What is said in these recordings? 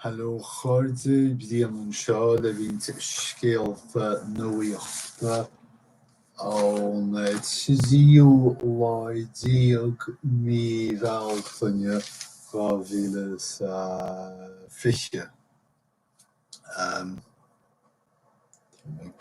Heileo a chairde, Brian anseo le roinnt scéalta nuaíochta ón tríú lá déag mí Bhealtaine 2020. Táim ag.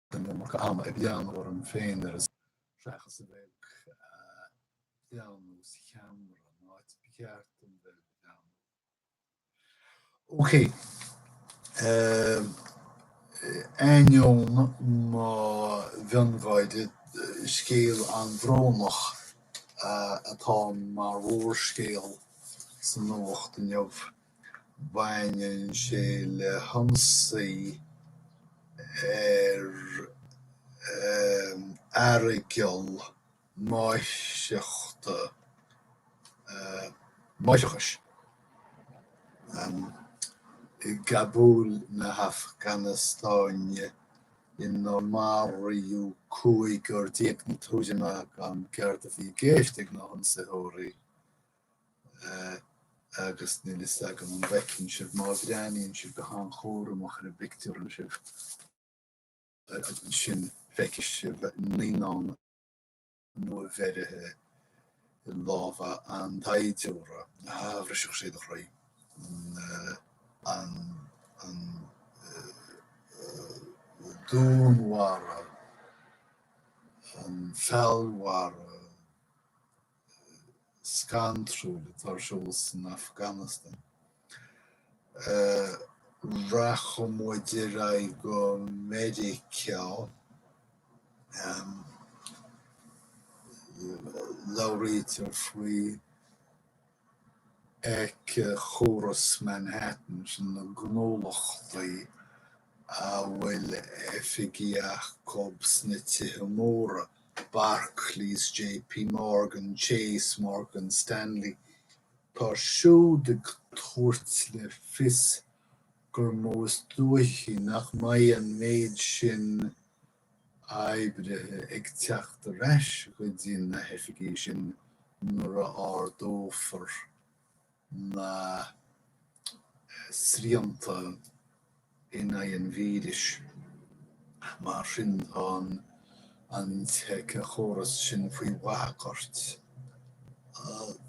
an iomarca ama ag breathnú orm féin ar an scáileán seachas a bheith ag breathnú sa cheamara, an áit ba cheart dom bheith ag breathnú. Okay. Um, ainneoin mo mheangadh gáire scéal an bhrónach atá mar mhórscéal san nuacht inniu. Baineann sé le hionsaí ar aireagal máithreachta, máithreachais, i gCabúl na hAfganastáine inar maraíodh cúigear déag, na Tuismithe gan ceart a bhí i gceist ag na hionsaitheoirí. agus níl fhios agam an bhfeiceann sibh má bhreathnaíonn sibh go han-chúramach ar an bpictiúr ansin, feicfidh sibh naíonán nuabheirthe i lámha an tsaighdiúra. Á, bhrisfeadh sé do chroí an dúnmharú, an feallmharú. scantrúil atá ar siúl san Afganastáin. Rachaidh muid ar aghaidh go Meiriceá, labhraítear faoi éiceachóras Manhattan, sin na gnólachtaí a bhfuil oifigí acu sna tithe móra, Barclays, JP Morgan Chase, Morgan Stanley, tá siúd ag tabhairt le fios gur móide is dóichí nach mbeidh an méid sin oibrithe ag teacht ar ais go dtí na hoifigí sin nuair a ardófar na srianta in aghaidh an víris. Mar sin, tá an t-éiceachóras sin faoi bhagairt.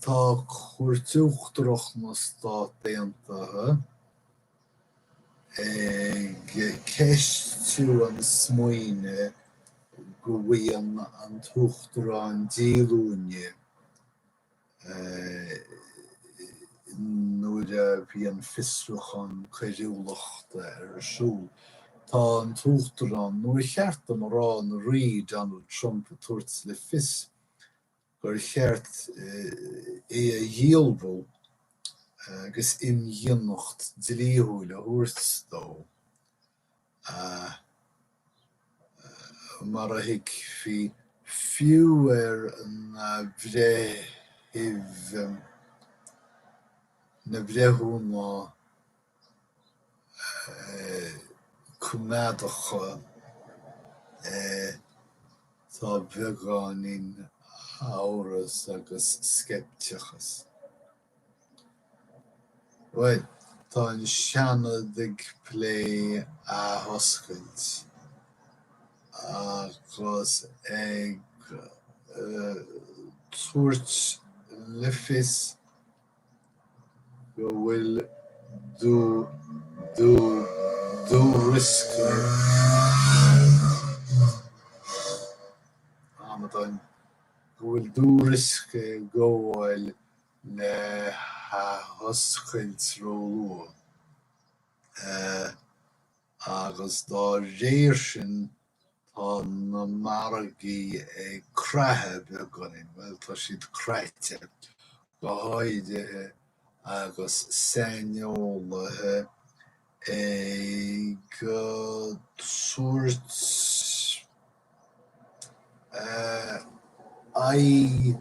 Tá Cúirt Uachtarach na Stát Aontaithe ag ceistiú an smaoinimh go bhfaigheann an tUachtarán díolúine nuair a bhí an fiosrúchán coiriúlachta ar siúl. Tá an tUachtarán, nó ar cheart dom a rá an Rí, Donald Trump ag tabhairt le fios gur cheart é a dhíolmhú agus imdhíonacht dlíthiúil a thabhairt dó. Mar a thuigfí fiú ar na bhreithimh, na breithiúna coimeádacha, tá beagáinín amhras agus sceipteachas. Bhuel, tá an Seanad ag plé athoscailt agus ag tabhairt le fios go bhfuil dúriosca ag gabháil le hathoscailt róluath agus dá réir sin tá na margaí ag creathadh beagáinín, bhuel tá siad craite, go háirithe agus saineolaithe ag tabhairt aghaidh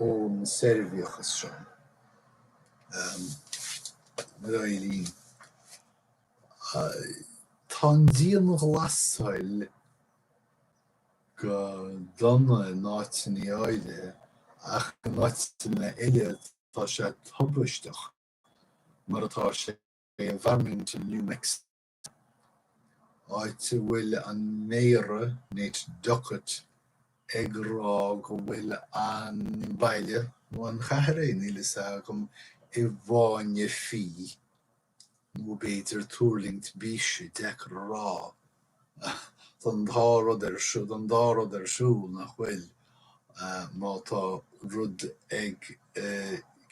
ón soirbhíochas seo. A Mháirín, tá an dianghlasáil go dona in áiteanna áirithe ach in áiteanna eile tá sé tubaisteach, mar atá sé i bhFarmington, New Mexico. áit a bhfuil an méara, Nate Duckett, ag rá go bhfuil an baile, nó an chathair é, níl fhios agam, i bhfáinne fí, nó b'fhéidir tuirlingt bíse, deacair a rá, an dá rud ar siúl nach bhfuil, má tá rud ag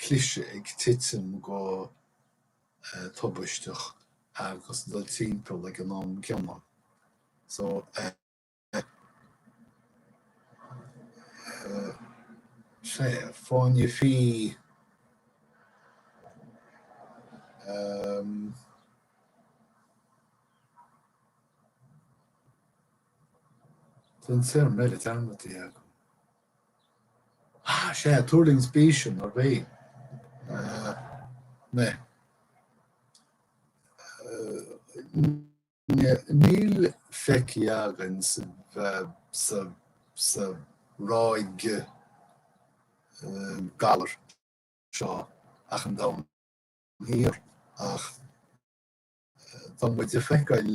cliseadh, ag titim go. tubaisteach agus dul timpeall ag an am céanna. So is é, fáinne fí Tá an téarma eile dearmadta agam. Sea, tuirlingt bíse. Níl feicthe againn sa ráig galar seo ach an domhan thoir ach tá muid a' feiceáil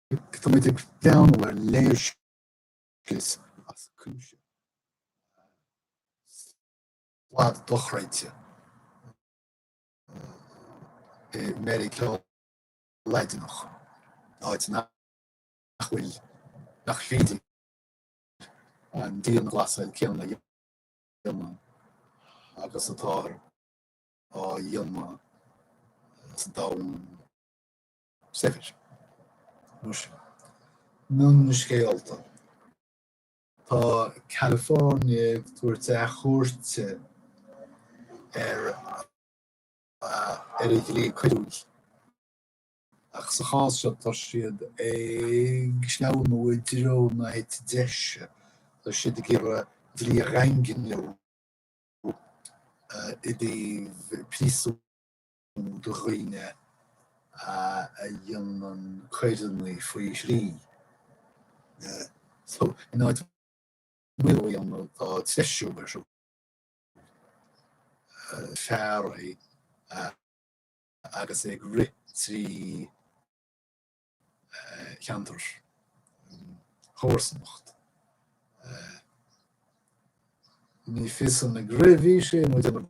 Tá muid ag féachaint ar léirscrios as cuimse, slad dochreidte i Meiriceá Laidineach, áit nach bhfuil, nach féidir an dianghlasáil céanna a dhéanamh agus atáthar á dhéanamh sa domhan Saibhir. Mar sin, mionscéalta, tá California ag tabhairt athchuairte ar a dhlí coiriúil, ach sa chás seo tá siad ag sleamhnú i dtreo na heite deise, tá siad ag iarraidh dlí a dhaingniú i dtaobh príosúin. nó do dhaoine a dhéanann coireanna faoi thrí. So, in áit maolú a dhéanamh, tá treisiú ar siúl. Fear óg agus é ag rith trí cheantar chomharsanacht. Ní fios an ag rith a bhí sé nó ag déanamh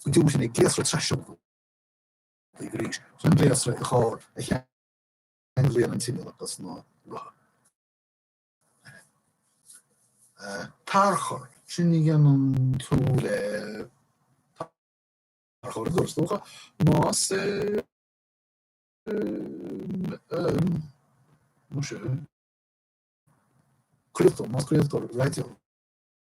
chun diúltú ag gléasra traiseoltaí arís chun gléasra i gcarr a cheanglaíonn an t-inneall agus na rothair a tharchur. Sin a dhéanann tú le tarchur, is dócha, más craoltóir, más craoltóir raidió.